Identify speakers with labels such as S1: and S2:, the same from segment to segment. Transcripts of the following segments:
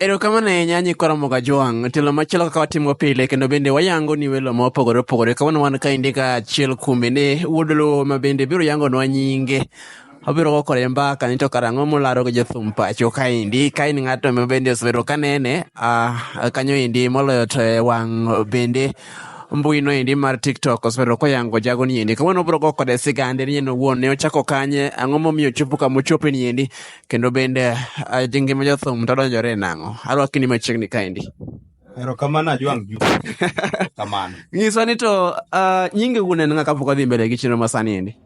S1: Erokamano ahinya Nyikwa Ramogi Ajwang'. Telo machielo kaka watimo pile kendo bende wayango ni welo ma opogore opogore. Kawuono wan kaendi ka achiel kuom mine wuod Luo ma bende biro yangonwa nyinge. Obiro go kore mbaka ni to karang'o molaro gi jothum pacho kaendi. Ka in ng'ato ma bende osebedo ka nene ah, kanyo endi moloyo to e wang' bende mbui no endi mar TikTok osebedo koyango jago ni endi. Kawuono obiro go kode sigande ni en owuon ne ochako kanye, ang'o momiyo ochopo kama ochope ni endi. Kendo bende ah, ji ngima jothum to donjore e nang'o? Arwakini machiegni kaendi. Erokamano
S2: Ajwang' Juma. Kamano. Nyiswa ni to
S1: ah, nyingi wuon en ng'a kapok wadhi mbele gi chenro masani endi.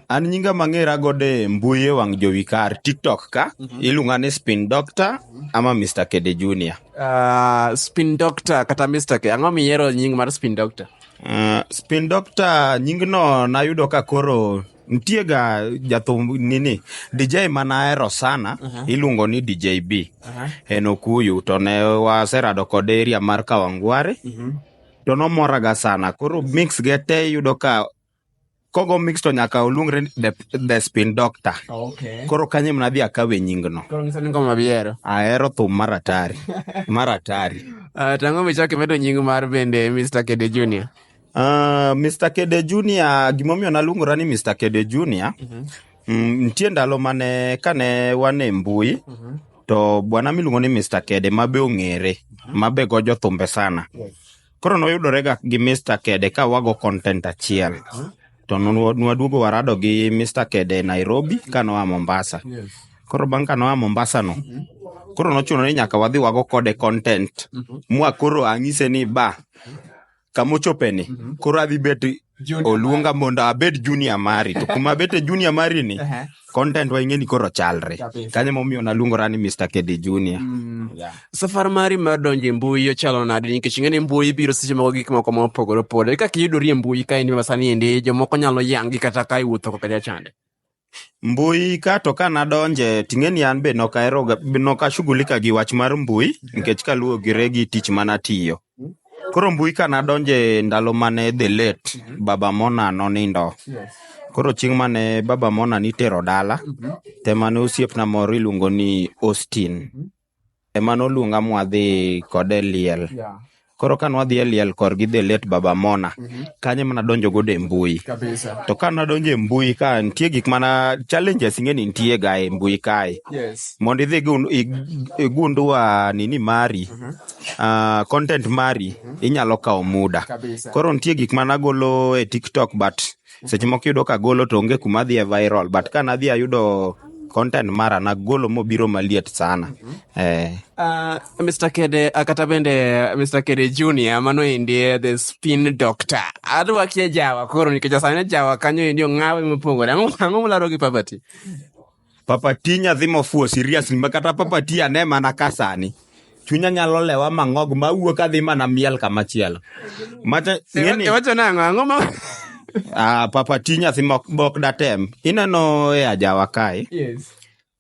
S1: An
S2: nyinga mang'era godo e mbui e wang' jowi kar TikTok ka iluonga ni Spin Doctor ama Mr. Kede Junior. Ah, spin
S1: doctor kata Mr. K. Ang'o miyiero nying mar spin doctor? Uh, Spin
S2: Doctor nyingno nayudo ka koro nitie ga jathum nini dj manahero sana iluongo ni dj b en okuyu to ne waserado kode eria mar kawangware to nomoraga sana koro mix ge te iyudo ka kogo mix to nyaka oluongre ni the, the spin doctor Okay. koro kanye
S1: mnadhi
S2: akawe nyingno Koro ng'iso ni ngoma bihero.
S1: ahero thum mar
S2: atari mar atari Ah, Tang'o
S1: michak imedo nying mar bende Mr. Kede Junior. Uh, ah, Mr.
S2: Kede Junior, gimomiyo naluongora ni Mr. Kede Junior, mm -hmm. mm, nitie ndalo mane kane wan e mbui mm -hmm. to bwana miluongo ni Mr. Kede mabe ong'ere, mm -hmm. mabe go jothumbe sana. Yes. Koro noyudore ga gi Mr. Kede ka wago content achiel. Mm -hmm. To nwaduogo warado gi Mr. Kede Nairobi ka noa Mombasa. Yes. Koro bang' ka noa Mombasa no, mm -hmm koro nochuno ni nyaka wadhi wago kode content mm -hmm. mwa koro ang'ise ni ba kamochopeni mm -hmm. koro adhi bet oluonga mondo abed junior mari to kuma abete junior mari ni content wa ing'e ni koro chalre kanyo momiyo naluongora ni mr kedi junior mm. yeah. safar
S1: mari mar donjo e mbui ochalo nade nikech ing'e ni mbui biro seche moko gik moko ma opogore opogore kaka iyudori e mbui ka in masani endi jomoko nyalo yangi kata ka iwuotho ko kata chande Mbui
S2: ka to ka nadonje ting'eni an be nok ahero ga- nok ashughulika gi wach mar mbui nikech kaluwogire gi tich mana tiyo. Koro mbui ka nadonje ndalo mane the late Baba Mona nonindo. Koro chieng' mane Baba Mona nitero dala, te mane osiepna moro iluongo ni Austin. ema noluonga mwadhi kode e liel. Yeah. Koro ka nwadhi e liel kor gi the late Baba Mona, mm -hmm. kanye mana donjo godo e mbui. Kabisa. To ka nadonjo e mbui ka nitie gik mana challenges ing'eni nitie ga e mbui kae. Yes. Mondo idhi igundua nini mari, mm -hmm. uh, content mari, mm -hmm. inyalo kawo muda. Kabisa. Koro nitie gik mana golo e TikTok but seche moko iyudo ka agolo to onge kuma adhi e viral but ka nadhi ayudo content mara nagolo mobiro maliet sana eh, Uh,
S1: Mr. Kede, uh, kata bende uh, Mr. Kede Junior, mano endi eh, the spin doctor. Adwa kia jawa koro nikech sani jawa kanyo endi ong'awe mopogore. Ang'o ang'o mularo gi poverty? Papa
S2: ti nyathi mofuwo serious ma kata papa ti ane mana ka sani. Chunya nyalo lewa mang'og ma wuok adhi mana miel kama chielo. Mata ng'eni
S1: Iwacho nang'o? Ang'o ma? ah, papa
S2: ti nyathi mok bok datem. Ineno e ajawa kae. Yes.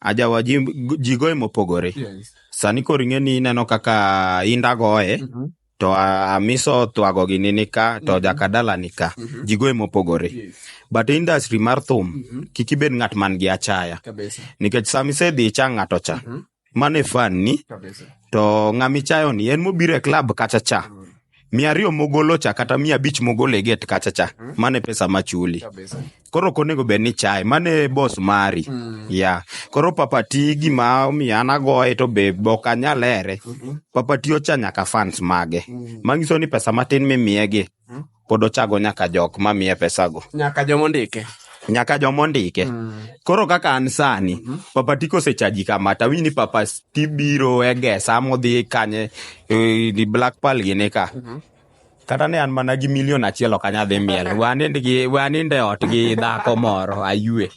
S2: Ajawa ji, ji goye mopogore. Yes. Sani koro ing'eni ineno kaka inda goye. Mhm. to amiso thwago gi nini ka to mhm. jakadala ni ka mhm. ji goye mopogore but industry mar thum mhm. kik ibed ng'at man gi achaya nikech sama isedhi icha ng'ato cha mane fan ni to ng'amichayo ni en mobiro e klab kacha cha mm. mia ariyo mogolo cha kata mia abich mogolo e get kacha cha mm. mane pesa machuli koro ok onego bed ni chaye mano e bos mari mm. ya koro papati gima omiyo an agoye to be ok anyal here mm-hmm. papati ocha nyaka fans mage mm. manyiso ni pesa matin mimiyegi mm. pod ochago nyaka jok mamiye pesago nyaka jomondike
S1: nyaka jomondike
S2: mm. koro kaka an sani mm-hmm. papati kosechaji kama tawinj ni papati biro egesa modhi kanye eh, black pal gini ka mm-hmm. kata ne an mana gi milion achiel ok anyadhi miel we anind e ot gi dhako moro ayue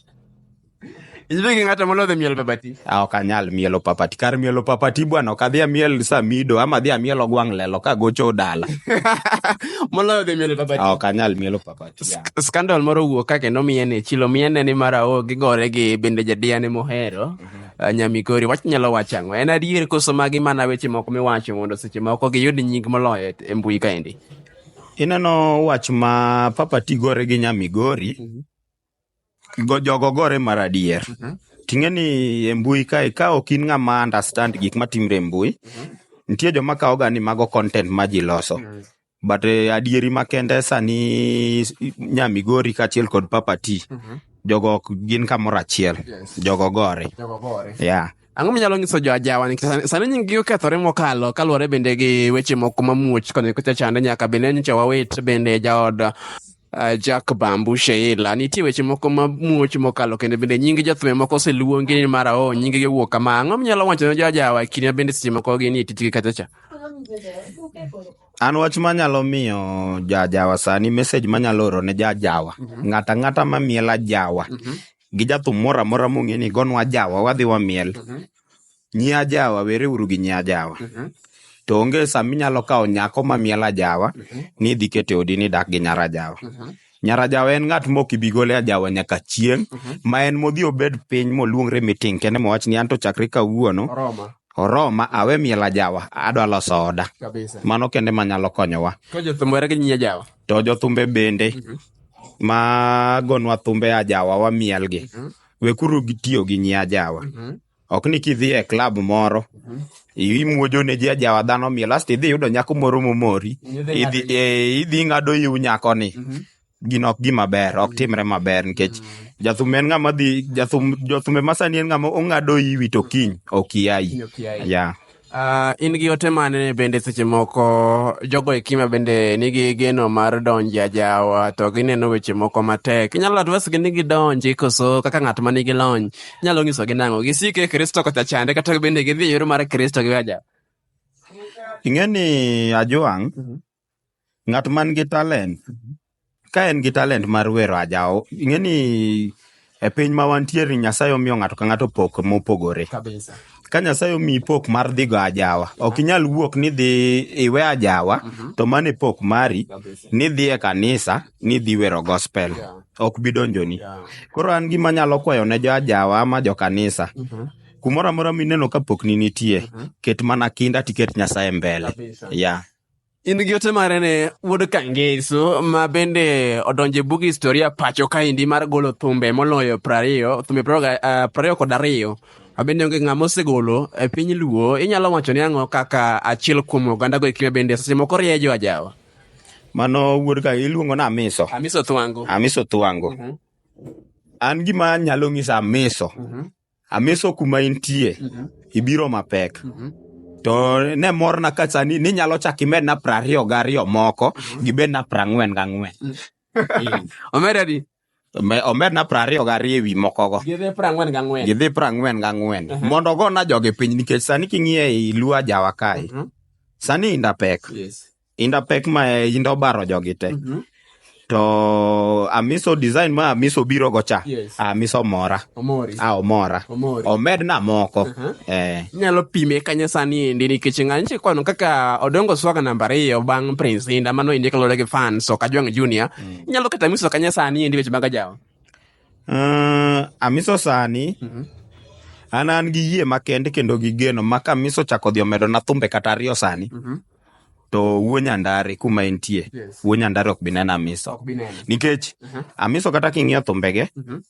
S1: inybe gi ng'ato molodhi miel papati ah, ok anyal mielo
S2: papati kar mielo papati bwana ok adhi amiel samido ama adhi amiel ogwang' lelo ka gocho dala
S1: moloyo dhi mielo papati ah, ok anyal mielo
S2: papati skandal moro
S1: wuok ka kendo miyene chilo miyene ni mara o gigore gi bende jadiyane mohero uh, Nyamigori wach nyalo wacho ang'o? En adier koso magi mana weche moko miwacho mondo seche moko giyud nying moloyo e mbui kaendi? Ineno
S2: wach ma Papa Ti gore gi Nyamigori, mm -hmm. jogo gore mar adier. Mm -hmm. Ting'e ni e mbui kae ka ok in ng'ama understand gik matimre e mbui, mm -hmm. nitie joma kawoga ni mago content ma ji loso. Mm -hmm. but eh, adieri makende sani nya migori kaachiel kod papa t jogo ok gin kamoro achiel Yes. jogo gore Jogo gore. yeah. ang'o minyalo nyiso
S1: jo ajawa nikech sani- sani nyinggi okethore mokalo kaluwore bende gi weche moko mamuoch koni kucha chande nyaka bende nyocha wawit bende jaod Uh, Jack Bambu Sheila, nitie weche moko ma muoch mokalo kendo bende nyingi jothum moko oseluongi ni mara o nyingi gi wuok kama ang'o minyalo wacho ne jojawa kine bende seche moko gin e tijgi kacha cha
S2: an wach manyalo miyo jajawa sani message manyalo oro ne jajawa mm -hmm. ng'ata ng'ata ma miela jawa mm -hmm. gi jathum moro amora mong'e ni gonwa jawa wadhi wamiel mm -hmm. Nyi ajawa, were uru gi nyi ajawa. Mhm. To onge sa minyalo kawo nyako ma miel ajawa Mhm. ni idhi kete odi ni dak gi nyar ajawa. Mhm. Nyar ajawa en ng'at mok ibi gole ajawa nyaka chieng' Mhm. ma en modhi obed piny moluongre meeting kende mowach ni anto chakre kawuono Oroma oroma awe miel ajawa adwa loso oda. kabisa. Mano kende manyalo konyowa. To jothum were gi nyi
S1: ajawa. To jothumbe bende
S2: Mhm. ma gonwa thumbe ajawa wamielgi. Mhm. Wekuru gi tiyo gi nyi ajawa. Mhm. Ok ni kidhi e klab moro imuojo ne ji ajawa dhano miel asto idhi yudo nyako moro momori idhi eh, idhi ing'ado iw nyakoni gino ok gima ber ok timre maber nikech jathum en ng'ama dhi jathum jothumbe masani en ng'ama ong'ado iwi to kiny ok iayi ya Uh, in gi
S1: ote mane bende seche moko jogo e kima bende nigi geno mar donjo e ajawa to gineno weche moko matek inyalo adwesgi ni gidonji koso kaka ng'at ma nigi lony inyalo nyisogi nang'o gisik e kristo kata chande kata bende gidhi e yor mar kristo gi ajawa ing'e ni
S2: ajwang' ng'at man gi talent ka en gi talent mar wero ajawo ing'e ni e piny ma wantiere nyasaye omiyo ng'ato ka ng'ato pok mopogore kabisa ka nyasaye omiyi pok mar dhigo ajawa ok inyal wuok ni dhi iwe ajawa to mano e pok mari kabisa ni dhi e kanisa ni dhi wero gospel Yeah. ok bi donjoni yeah. koro an gima nyalo kwayo ne jo ajawa ama jo kanisa Mhm. kumoro amora mineno ka pok ni nitie ket mana kinda tiket nyasaye mbele kabisa ya In gi ote
S1: mare ne wuod Kangeso ma bende odonje bug historia pacho kaendi mar golo thumbe moloyo prariyo, thumbe prariyo eh, kod ariyo. Abende onge ng'ama osegolo e piny Luo, inyalo wacho ni ang'o kaka achiel kuom oganda go ekime bende seche moko riejo ajawa. Mano
S2: wuod ka iluongo na Amiso. Amiso Thwango. Amiso Thwango. Mhm. An gima nyalo ng'isa Amiso. Mhm. ameso kuma intie Mhm. ibiro mapek Mhm. to ne morna ka sani ninyalo chak imedna prariyo gariyo moko gibedna prang'wen gang'wen
S1: omeda di Me-
S2: omedna prariyo gariyo ewi mokogo gidhi prang'wen gang'wen
S1: gidhi prang'wen
S2: gang'wen Mhm. mondo ogona jogi piny nikech sani king'iye i luo ajawa kae Mhm. sani inda pek Yes. inda pek ma inda obaro jogi te Mhm. to amiso design ma amiso biro go cha Yes. amiso mora Omori. a omora Omori. omedna moko Aha. eh Inyalo
S1: pime kanye sani endi nikech ng'ani nitie kwano kaka Odongo Swaga namba ariyo bang' Prince Inda mano endi kaluwore gi fans ok Ajwang' Junior. Inyalo kata miso kanye sani endi weche mag ajawa. Eh,
S2: amiso sani an an gi yie makende kendo gi geno ma kamiso chako dhi omedona thumbe kata ariyo sani to wuo nyandari kuma entie yes. wuo nyandari ok bineno amiso nikech uh mhm. -huh. amiso kata king'iyo thumbege uh mhm. -huh.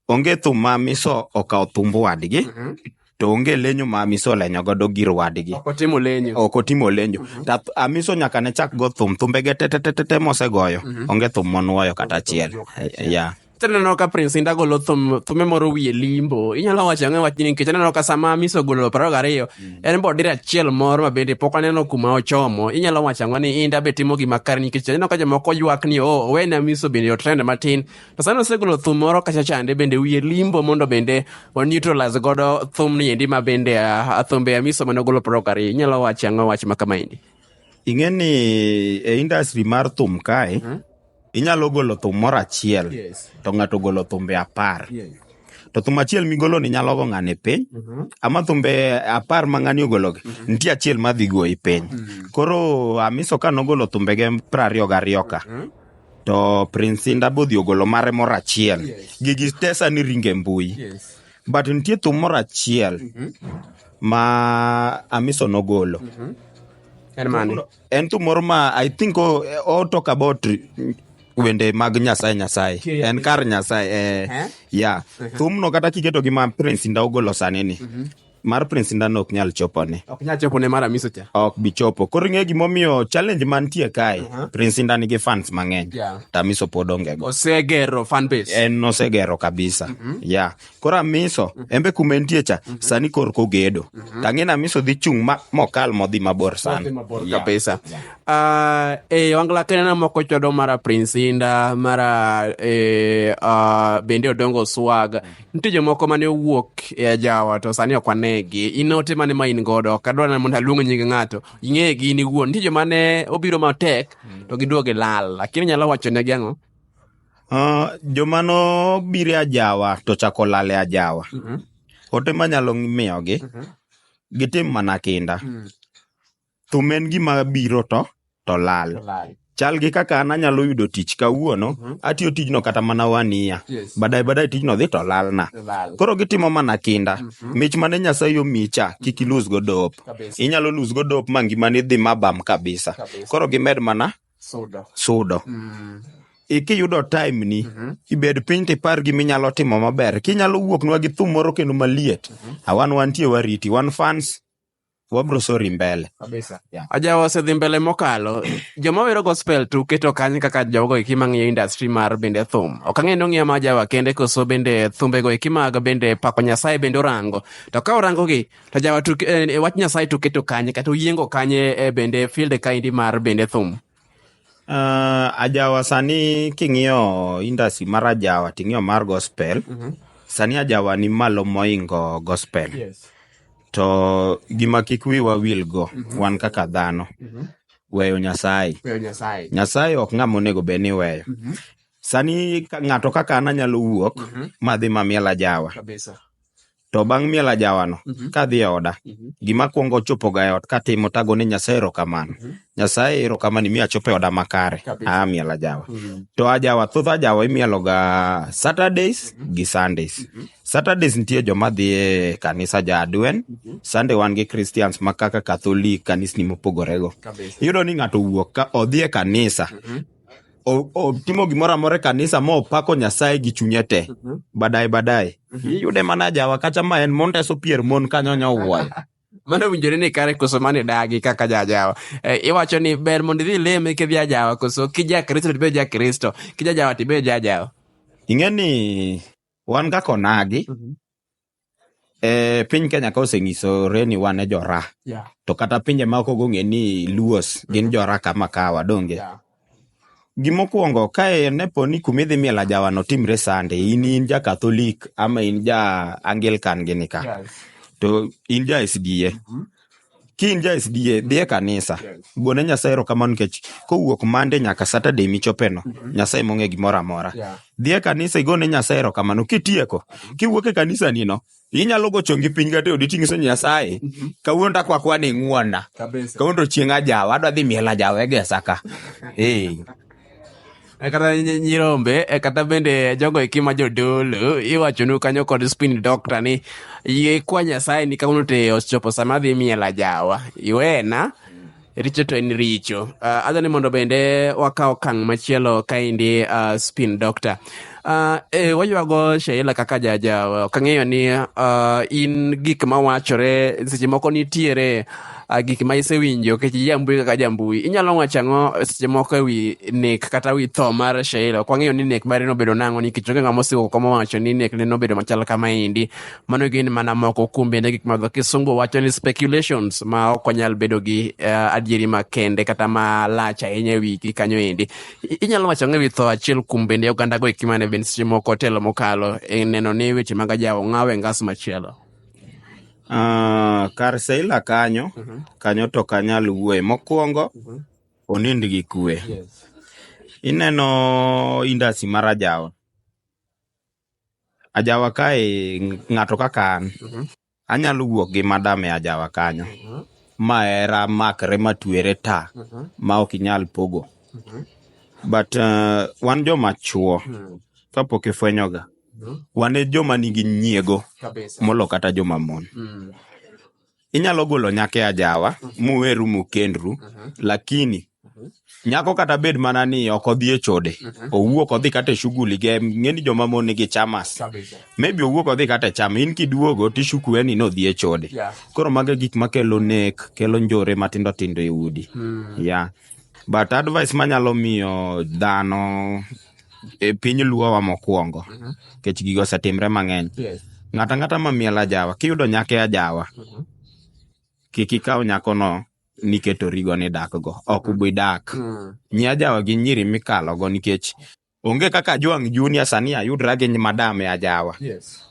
S2: onge thum ma amiso okawo thumb wadgi uh mhm. -huh to onge lenyo ma amiso lenyo godo gir wadgi ok otimo lenyo ok otimo lenyo mm -hmm. amiso nyaka ne chak go thum thumbege tetetetete mosegoyo mm -hmm. onge thum monwoyo kata achiel yeah. Tineno ka Prince
S1: Inda golo thum, thume moro wiye limbo. Inyalo wacho ang'e wach nikech aneno ka sama Miso golo paro gariyo, mm. en bo dire achiel moro ma bende pok aneno kuma ochomo. Inyalo wacho ang'o ni Inda be timo gima kare nikech aneno ka jomoko ywak ni o oh, owene Miso bende yo trend matin. To sani osegolo thum moro kacha chande bende wiye limbo mondo bende o neutralize godo thum ni endi ma bende ah, ah, thumbe ya Miso mane ogolo paro gariyo. Inyalo wacho ang'o wach ma kama endi? Ing'e ni
S2: e industry mar thum kae, mm -hmm inyalo golo thum moro achiel to ng'ato ogolo thumbe apar to thum achiel migolo ni nyalo go ng'ani piny mhm. ama thumbe apar ma ng'ani ogologi mhm. nitie achiel ma dhi goyi piny mhm. koro amiso ka nogolo thumbege prariyo gariyo ka to prince inda bodhi ogolo mare moro achiel gigi tesa ni ringe mbui but nitie thum moro achiel ma amiso nogolo en mane en thum moro ma i think o, o talk about wende mag nyasaye nyasaye Kiriya en kar nyasaye eh, Eh? ya thumno kata kiketo gi ma prince inda ogolo sani ni mar prince inda no ok nyal chopone ok nyal chopo ne mara miso cha ok
S1: bi chopo koro ing'e
S2: gimomiyo challenge mantie kae prince inda nigi fans mang'eny Yeah. tamiso pod ongego osegero fan base
S1: en nosegero
S2: kabisa ya koro amiso mm. embe kuma entie cha mm-hmm. sani kor kogedo mm-hmm. tang'e na amiso dhi chung' mokal modhi mabor sana kabisa
S1: ah, e eh, wangla kenena moko chodo mara prince inda mara eh, ah, bende odongo swag mm-hmm. nitie jomoko mane owuok e ajawa to sani ok wanegi in ote mane ma in godo ok adwa mondo aluong nying ng'ato ing'eye gi in iwuon nitie jomane obiro matek mm. to giduoge lal lakini nyalo wacho negi ang'o Uh,
S2: joma nobiro e ajawa to chako lal e ajawa mm -hmm. ote manyalo miyogi mm -hmm. gitim mana kinda mm -hmm. thum en gima biro to to lal, to lal. chal gi kaka an anyalo yudo tich kawuono mm -hmm. atiyo tijno kata mana wania yes. badai badai tijno dhi to lalna lal. koro gitimo mana kinda mm -hmm. mich mane nyasaye omicha kik ilus godop inyalo lus godop ma ngimani dhi mabam kabisa. kabisa koro gimed mana Sudo. sudo Mm. e kiyudo time ni Mhm. ibed piny to ipar gi minyalo timo maber kinyalo wuoknwa gi thum moro kendo maliet awan wantie wariti wan fans wabro sori mbele Kabisa. Yeah. aja
S1: wasedhi mbele mokalo joma wero gospel to uketo kany kaka jogo eki mang'iyo industry mar bende thum ok ang'e ni ong'iya ma jawa kende koso bende thumbego eki mag bende pako nyasaye bende orango to ka orangogi To jawa to eh, eh, wach Nyasaye to keto kanye kata oyiengo kanye eh, bende field kaindi mar bende thum. Uh,
S2: ajawa sani king'iyo industry mar ajawa ting'iyo mar gospel mm -hmm. sani ajawa ni malo moingo gospel yes. to gima kik wiwa wil go mm -hmm. wan kaka dhano mm -hmm. weyo nyasaye nyasaye nyasaye ok ng'ama onego bed ni weyo mm -hmm. sani ng'ato kaka an anyalo wuok mm -hmm. madhi mamiel ajawa Kabisa To bang' miel ajawano, Mhm. kadhi e oda, Mhm. gima kwongo chopoga e ot katimo tago ni Nyasaye erokamano. Mhm. Nyasaye erokamano imiyo achopo e oda makare. Kabisa. Ah, miel ajawa. Mm. To ajawa, thoth ajawa imieloga Saturdays gi Sundays. Mhm. Saturdays nitie joma dhi e kanisa ja Adwen, Mhm. Sunday wan gi Christians ma kaka Catholic kanisni mopogorego. Kabisa. Iyudo ni ng'ato wuok ka odhi e kanisa Mhm. o- otimo gimoro amora e kanisa ma opako nyasaye gi chunye te badaye badaye iyude mana jawa kacha ma en mondeso pier mon kanyo nyowuoyo mano owinjore
S1: ni kare koso mane dagi kaka jajawa e, iwacho ni ber mondo idhi leme kidhi ajawa koso kijakristo tibed jakristo kijajawa tibed jajawa ing'e ni
S2: wan kaka onagi Eh, piny Kenya ka osenyisore ni wan e jora Yeah. to kata pinje ma ok ong'e ni luos gin jora kama kawa donge Yeah. gimokwongo kae ne po ni kumidhi miel ajawa no timre sande in in ja katholik ama in ja anglican gini ka Yes. to in ja sda Ki in ja SDA, dhi e kanisa. Gone Nyasaye erokamano nikech kowuok Monday nyaka Saturday michopeno, Nyasaye mong'e gimoro amora. Dhi e kanisa igone Nyasaye erokamano. Kitieko, kiwuok e kanisani no, inyalo go chongi piny kata e odi ting'iso Nyasaye, kawuono takwa kwa ni ing'wonna. Kawuono to chieng' ajawa, adwa dhi miel ajawa e gesa ka. Ee.
S1: Eh, kata nyi- nyirombe eh, kata bende jogo eki ma jodolo iwachonu kanyo kod spin doctor ni yie kwa nyasaye ni kawuono te ochopo sama adhi miela jawa iwena richo to en richo uh, adha ni mondo bende wakaw kang machielo kaendi uh, spin doctor uh, eh, waywago sheila kaka jaja kang'eyo ni uh, in gik mawachore seche moko nitiere ah, gik ma isewinjo kech jambui kaka jambui inyalo wacho ang'o seche moko e wi nek kata wi tho mar sheila ok wang'eyo ni nek mare nobedo nang'o nikech onge ng'ama osiko koma wacho ni nek ne nobedo machal kama endi mano gin mana moko kuom bende gik ma dho kisungu wacho ni speculations ma ok wanyal bedo gi uh, adieri makende kata ma lach ahinya e wigi kanyo endi inyalo wacho ang'o e wi tho achiel kuom bende ogandago eki mane bende seche moko otelo mokalo e neno ni weche mag ajawo ng'awe ngas machielo Ah,
S2: kar Seila kanyo, Mhm. kanyo to kanyal wuoye. Mokwongo, Mhm. onind gi kwe. Yes. Ineno indasi mar ajawa. Ajawa kae ng'ato kaka an, Mhm. anyalo wuok gi madam e ajawa kanyo. Mhm. Ma hera makre matwere ta, Mhm. ma ok inyal pogo. Mhm. But uh, wan joma chuo, Mhm. kapok ifwenyoga. wan e joma nigi nyiego molo kata joma mon mm. inyalo golo nyake ajawa mm-hmm. muweru mukendru mm-hmm. lakini mm-hmm. nyako kata bed mana ni ok odhi e chode owuok odhi kata e shughuli ge ng'eni joma mon nigi chamas maybe owuok odhi kata e chama in kiduogo tishukuwe ni nodhi e chode koro mago e gik makelo nek kelo njore matindo tindo e udi mm. ya But advice manyalo miyo dhano e piny luowa mokwongo mhm. kech gigo osetimre mang'eny ng'ata ng'ata ma miel ajawa kiyudo nyake ajawa mhm. kik ikaw nyakono niketo rigo ni dakgo ok ubi dak mm. nyi ajawa gi nyiri mikalogo nikech Onge kaka Juang Junior sani ayudra gi madam e ajawa. Yes.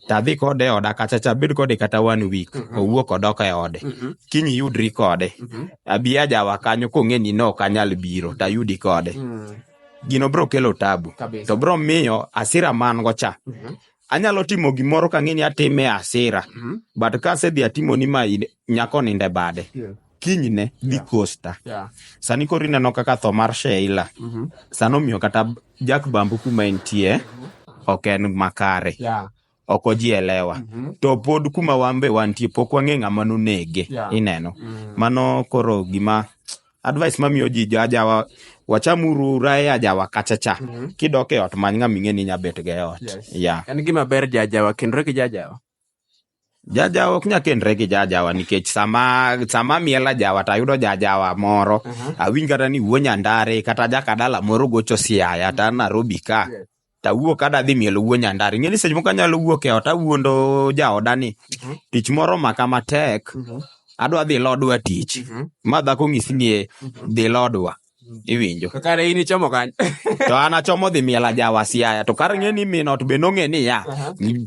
S2: Tadhi kode e oda kacha cha bed kode kata one week. Mhm. Owuok odok e ode. Mhm. Kiny iyudri kode. Mhm. Abi ajawa kanyo kong'e ni no ok anyal biro tayudi kode. Mm. Gino bro kelo tabu. Kabisa. To bro miyo asira man go cha. Mhm. anyalo timo gimoro ka ng'ini atime asira mm-hmm. but ka asedhi atimo ni ma nyako ninde bade yeah. kinyne dhi yeah. costa yeah. sani koro ineno kaka tho mar sheila mm-hmm. sani omiyo kata jak bambu kuma entie mm-hmm. ok en makare yeah ok ojielewa mm -hmm. to pod kuma wan be wantie pok wang'e ng'ama nonege yeah. ineno mm -hmm. mano koro gima advice mamiyo ji jajawa wachamuru rae ajawa kacha cha mm -hmm. kidok e ot many ng'ama ing'e ni nya bet ga e ot yes. yeah. en gima ber
S1: jajawa kendore gi jajawa
S2: jajawa ok nya kendre gi jajawa nikech sama sama miela jawa to ayudo jajawa moro uh -huh. awinj kata ni wuo nyandare kata jakadala moro gocho siaya ta narobi ka yes. tawuok ka adhi mielo wuo nyandar ing'e ni seche moko anyalo wuok e ot awuondo jaoda ni mhm. tich moro maka matek mhm. adwa dhi lodwa tich mhm. ma dhako ng'isi ni e, dhi lodwa iwinjo kare in ichomo
S1: kanyo to an achomo
S2: dhi miel ajawa siaya to kar ng'e ni min ot be nong'e ni ya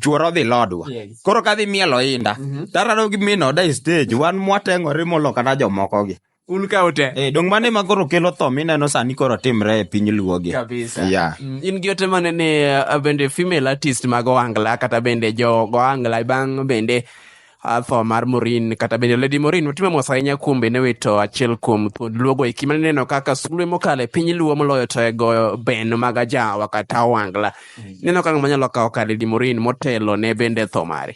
S2: chuoro dhi lodwa koro ka dhi mielo inda tarado gi min oda e stage wan mwateng'ore molo kata jomokogi un ka ute Eh,
S1: dong mane ma koro kelo
S2: tho mineno sani koro timre e piny luogi kabisa Yeah. Mm,
S1: in gi ote mane ni uh, bende female artist mag ohangla kata bende jo go ohangla bang' bende uh, tho mar morin kata bende lady morin otimo mos ahinya kuom bende wito achiel kuom thuond luogo eki mane neno kaka sulwe mokalo e piny luo moloyo to e goyo ben mag ajawa kata ohangla neno kaka manyalo kawo ka lady morin motelo ne bende tho mare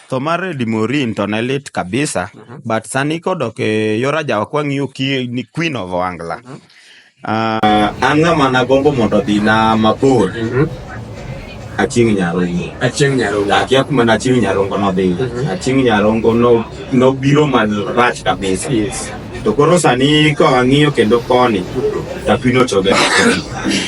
S2: tho mar Eddie Morin to ne lit kabisa mm -hmm. but sani kodok e yor ajawa kwang'iyo ni Queen of Wangla mm -hmm. Uh, ah, an ng'ama nagombo mondo odhi na mabor mm -hmm. Achieng' Nyarongo. Achieng' Nyarongo. Akia kuma na Achieng' Nyarongo nodhi. Mm -hmm. Achieng' Nyarongo nobiro no man rach kabisa. Yes. To koro sani ka wang'iyo kendo koni to apino chobe.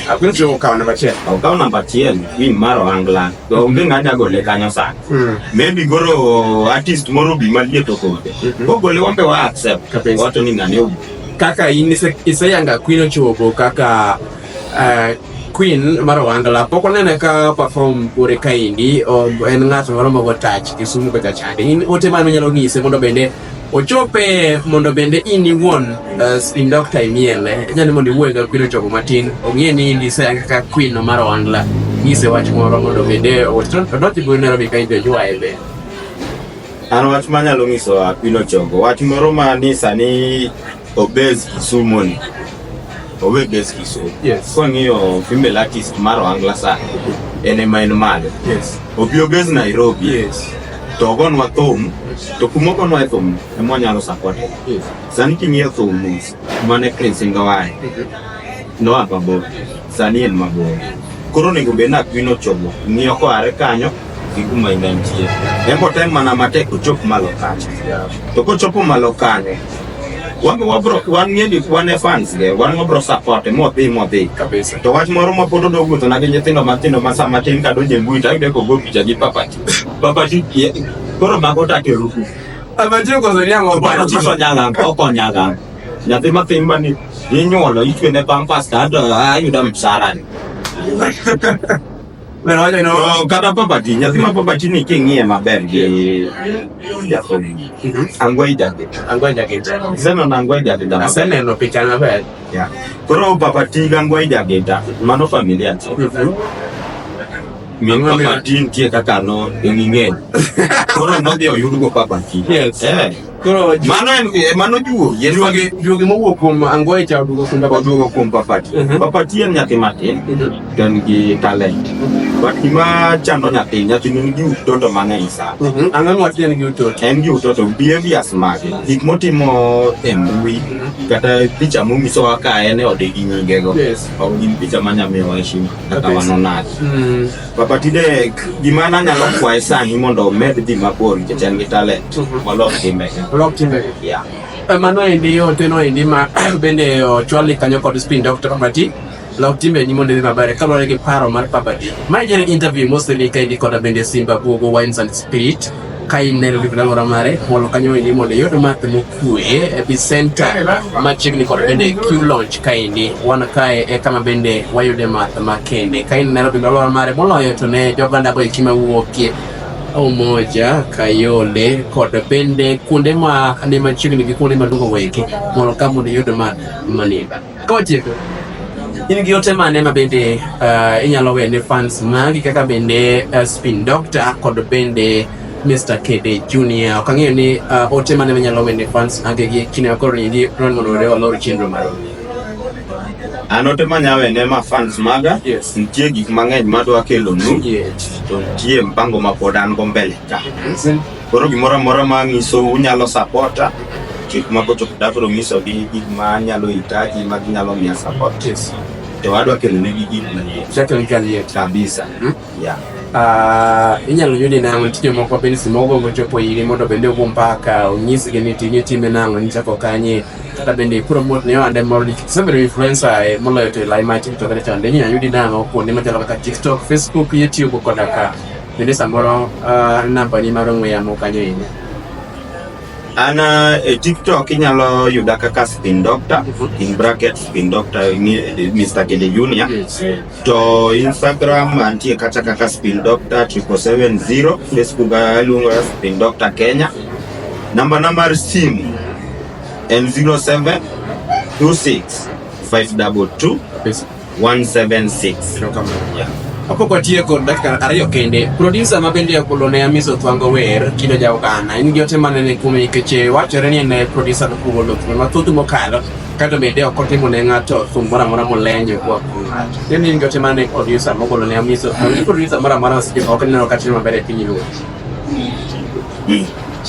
S2: Apino
S1: chobe okawo namba achiel. Okawo namba achiel
S2: ni mar ohangla. To onge ng'anya gole kanyo sani. Hmm. Maybe goro artist moro bi malie to kode. Hmm. Kogole wambe wa accept. Wato ni ng'ane obi. Kaka in
S1: iseyanga Apino chobo kaka eh, Queen mar Wangla pok onene ka perform kure kaendi en ng'at moro mogo touch Kisumu kocha chande. In ote mane onyalo ng'ise mondo bende ochope mondo bende in iwuon uh, spin doctor imiele inya ni mondo iwuoye ga kwino chogo matin ong'e ni in ise kaka kwino mar ohangla nyise wach moro mondo bende odoti biro Nairobi ka injo ywaye be
S2: an wach manyalo nyiso kwino chogo wach moro ma ni sani Obez Kisumu ni. Owe Base Kisumu. Yes. Kwa ngiyo female artist maro angla sana. Ene main male. Yes. Obi Obez Nairobi. Yes. To gon wa thum. To kuma gon wa thum. E mwa nyalo support. Yes. Sani kimiyo thum. Mane Prince Ngawai. Mm-hmm. No ababo. Sani en mabor. Koro nego bena kwino chobo. Ngiyo kwa are kanyo. gikuma ine nitie eko tem mana matek ochop malo kacha to kochopo malo kane wan wabro wan ng'eni wan e fans ge wan wabro support e modhi modhi kabisa to wach moro ma pod odo wuotho na gi nyithindo matindo ma sama tin ka donje mbui to ayude kogo picha gi papati papati koro mago take ruku amantie koso
S1: nyang'o oparo chiso nyang'ang
S2: oko nyang'ang nyathi mathin mani inyuolo ichwene pampas to ayuda msarani
S1: Well, I don't know. Oh, kata property, nyathi ma
S2: property ni king'iye maber gi jakom. Angwai David. Angwai David. Sema na Angwai David. Aseneno picha
S1: maber. Yeah. Koro
S2: property ga Angwai David. Mano familia to. Mingwa mi matin tie kaka no ing'e. Koro nodhi oyudo go property. Yes. Eh. Koro ju- Mano en eh, mano juo. Yien juogi magi
S1: juogi mowuok kuom Angoi cha oduogo kuom Babati. oduogo
S2: kuom Papati.
S1: Mhm.
S2: Papati en nyathi matin.
S1: Mhm.
S2: to en gi talent but gima chando nyathi nyathi nigi utoto mang'eny sana Mhm. Ang'o ma tiende gi
S1: utoto? en gi utoto
S2: behaviors mage gik motimo e mbui kata picha monyisowa ka en e ode gi nyingego Yes. ok gin picha manyamiyowa heshima kata Okay. wanonagi Mm. Papa Tidek, gima an anyalo kwaye sani mondo omed dhi mabor nikech en gi talent molok
S1: timbege. Lok timbe. Yeah. Eh, Mano endi ote no endi ma bende ochwali kanyo kod spin doctor Pabati. Lok timbe ni mondo idhi maber kaluwore gi paro mar Pabati. Ma en interview mostly kaendi kod bende Simba Buogo Wines and Spirit. ka ineno gik ndalo ramare mondo kanyo endi mondo iyud math mokue e bisenta machiegni kod bende Q launch kaendi wan kae e kama bende wayude math makende ka in Nairobi ndalo ramare moloyo to ne joganda go eki mawuokie Umoja, Kayole kod bende kuonde ma ne machiegni gi kuonde maduong' weki mondo ka mondo iyud math maniba Kotieko. In gi yote mane ma bende uh, inyalo wene fans magi kaka bende uh, Spin Doctor kod bende Mr. KD Junior. Ok ang'eyo ni uh, ote mane manyalo wende fans age gi kine akoro ni ndi ron mondo were walor chenro mar. An
S2: ote manya wende ma fans maga. Yes. Nitie gik mang'eny madwa kelo nu. Yes. To nitie mpango ma pod an go mbele ka. Koro gimoro amora ma nyiso unyalo sapota gik moko to dakoro nyiso gi gik ma nyalo hitaji ma ginyalo miya support to wadwa kelo ne gi gik manyien Chakre gi kaliet. kabisa Hmm? yeah Ah,
S1: inyalo yudi nang'o tije moko bende si mogo mochopo iri mondo bende ogo mpaka onyisgi ni tije time nang'o nichako kanye kata bende promote ne ohande moro nikech isebedo influencer eh, moloyo to elai mar tiktok kata chande inyalo yudi nang'o kuonde machalo kaka tiktok facebook youtube koda ka Bende samoro uh, nambani mar ong'we yamo kanyo inya.
S2: An uh, e TikTok inyalo yuda kaka Spin Doctor, mhm. in bracket Spin Doctor Mr. Kede Junior. To Instagram antie kata kaka Spin Doctor 770, Facebook aluongo uh, Spin Doctor Kenya. Namba na mar simu en 07 26 522 176 kapok watieko
S1: dakika ariyo kende producer ma bende okolo ne amiso thwango wer kido ja oganda en gi ote mane ni kuome nikech e, wachore ni en e producer nokugolo thuno mathoth mokalo kato bende ok otimo ne ng'ato thum moro amora molenyo kuwa kuom ng'ato en in gi ote mane producer mogolo ne amiso producer moro amora ok neno ka timo maber e piny luo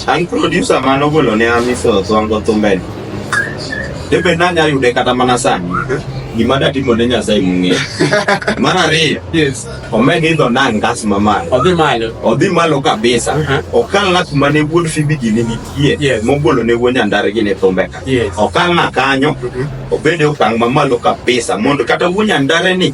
S2: An producer mane ogolo ne Amiso Songo thumbeni. Debe nanya yude kata mana sani. Gima datimo ne Nyasaye mung'e. Mar ariyo, Yes. omed idho na ngas mamalo. Odhi malo. Odhi malo kabisa. Mhm. Okalna kuma ne wuod Fibigi ne nitie. Yes. Mogolo ne wuod Nyandare gi ne thumbe ka. Yes. Okalna kanyo. Obede okang' mamalo kabisa mondo kata wuod Nyandare ni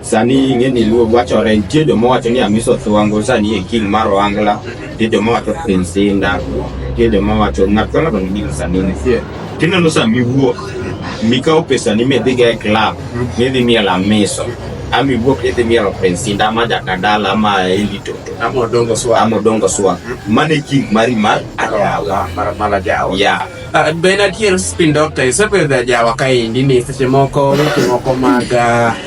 S2: Sani ing'e ni luo wachore, nitie joma wacho ni Amiso Thwango sani e king mar Ohangla, nitie joma wacho Prince Inda, nitie joma wacho ng'at ka ng'ato nigi sani nitie. Tineno sa miwuok mikawo pesani midhiga e club midhi miel Amiso ama iwuok idhi mielo Prince Inda ama Jakadala ama Eli Toto ama Odongo Swag, mano e king mari mar Ajawa. Yeah.
S1: Uh,
S2: Benadier
S1: Spin Doctor isepedho ajawa kaendi ni seche moko weche moko mag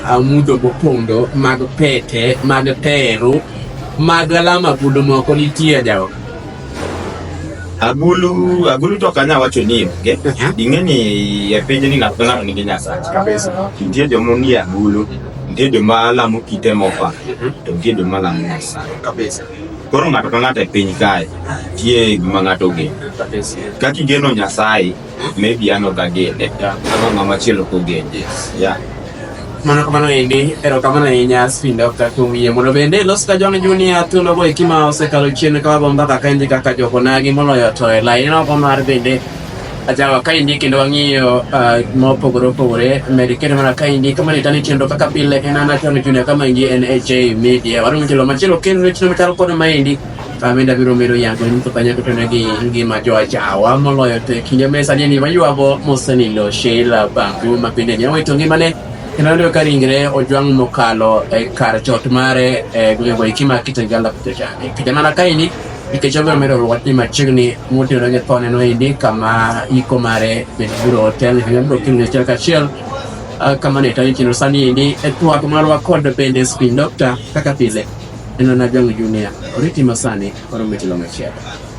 S1: uh, mudho mopondo mag pete mag teru mag alama agulu moko nitie ajawa agulu
S2: agulu to kanya wacho ni onge ing'e ni e piny ni ng'ato ng'ato nigi nyasache kabisa nitie
S1: joma nie
S2: agulu nitie joma lamo kite mopa to nitie joma lamo nyasaye kabisa Koro
S1: ng'ato ka ng'ato
S2: e piny kae tie gima ng'ato ogeno. Kaka igeno Nyasaye, maybe an ok agene. Kaka ng'ama chielo ok ogene. Yeah. Mano
S1: kamano endi, erokamano ahinya Spin Doctor kuom yie mondo bende ilos ka John Junior thuologo eki ma osekalo chien ka wabomba kaka enje kaka jokonagi moloyo to e laini oko mar bende Ajawa ka indiki kendo wang'iyo uh, ma opogore opogore med kendo mana ka indiki kama ni tani chenro kaka pile en an Attorney Junior kama indi en HA Media warumo jelo machielo kendo ne chenro machalo kod ma indi amenda biro medo yango ni mtu kanya kutana gi ngima jo ajawa moloyo te kinde mesa ni ni mayuago mosenilo Sheila Bangu ma bende ni awito ngimane kendo ndio ka ringre ojwang' mokalo e kar chot mare e gwengego ikima kitengala kutecha kinde mana ka indi Nikech obiro medo rwot ni machiegni motiyo ne thone noyudi kama iko mare bende biro otel kendo biro kendo achiel kachiel ah, kama ne tani chino sani endi e twak marwa kod bende spin doctor kaka pile en na jong junior oriti masani oromo tilo machielo